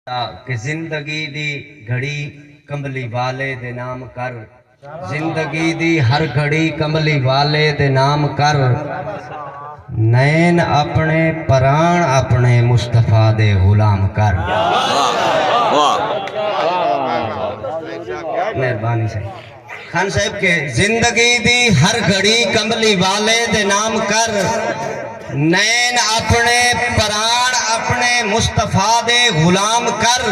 تاکہ زندگی دی گھڑی کملی والے دے نام کر۔ زندگی دی ہر گھڑی کملی والے دے نام کر۔ نین اپنے پران اپنے مصطفی دے غلام کر۔ مہربانی سائیں۔ خان صاحب کے زندگی دی ہر گھڑی کملی والے دے نام کر نین اپنے پران اپنے مصطفی دے غلام کر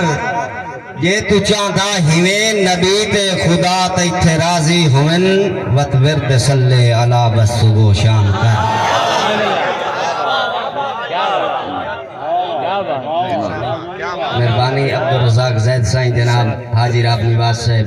جے تو چاہندا ہیویں نبی تے خدا تیتھے راضی ہوون وت ورد صلی علی بس صبح و شام کر۔ مہربانی عبدالرزاق زید سائیں جناب حاجی راب نواز صاحب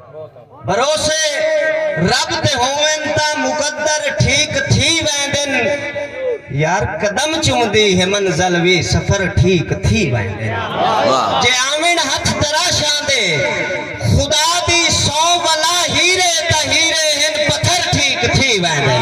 بھروسے رب تے ہوون تاں مقدر ٹھیک تھی ویندن یار قدم چمدی ہے منزل وی سفر ٹھیک تھی ویندن جے آون ہتھ تراشاں دے خدا دی سوں ولا ہیرے تاں ہیرے ہن پتھر ٹھیک تھی ویندن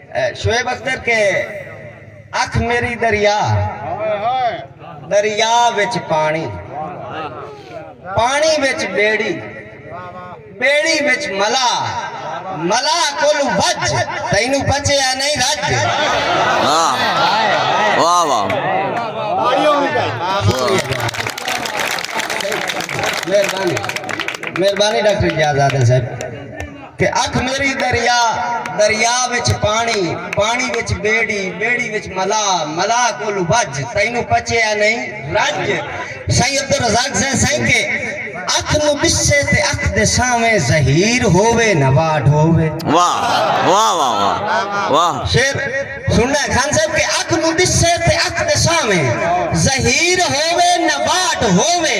شعیب اختر کے اکھ میری دریا دریا وچ پانی پانی وچ بیڑی بیڑی وچ ملا ملا کول وج تینو بچے آ نہیں رج واہ واہ مہربانی مہربانی ڈاکٹر جی آزاد صاحب تے اکھ میݙی دریا، دریا وچ پاݨی، پاݨی وچ ٻیڑی، ٻیڑی وچ ملاح، ملاح کولوں وڄ، تینوں پچے یا نئیں؟ رڄ۔ سائیں عبدالرزاق زئے سائیں کے اکھ نوں ݙسے تے اکھ دے سانویں ظہیر ہووے نہ واڈھ ہووے۔ واہ واہ واہ واہ واہ۔ شعر سݨݨا ہے خان صاحب کے اکھ نوں ݙسے تے اکھ دے سانویں ظہیر ہووے نہ واڈھ ہووے۔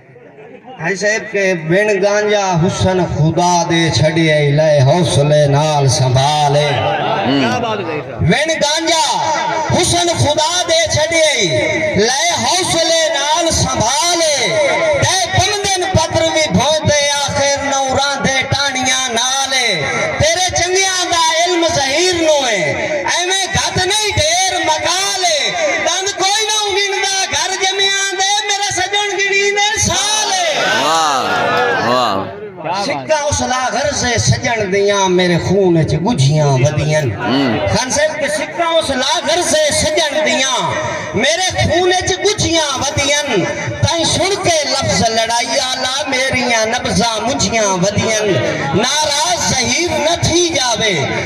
ہیسیب کے بن گانجا حسن خدا دے چھڑے اے لے حوصلے نال سنبھالے بن گانجا حسن خدا دے چھڑے اے لے حوصلے نال سنبھالے تے بندن پتر وی بھوندے آخر نو راندے ٹانیاں نال اے تیرے چنگیاں دا علم ظہیر نو اے ایویں گھت نہیں ڈھیر مقال اے دند کوئی نہ گھندا گھر سجن دیاں میرے خون اچھ گجھیاں ودیاں خان صاحب کے سکھاں اس لاغر سے سجن دیاں میرے خون اچھ گجھیاں ودیاں تائیں سن کے لفظ لڑائی آلا میریاں نبزہ مجھیاں ودیاں ناراض زہیر نہ تھی جاوے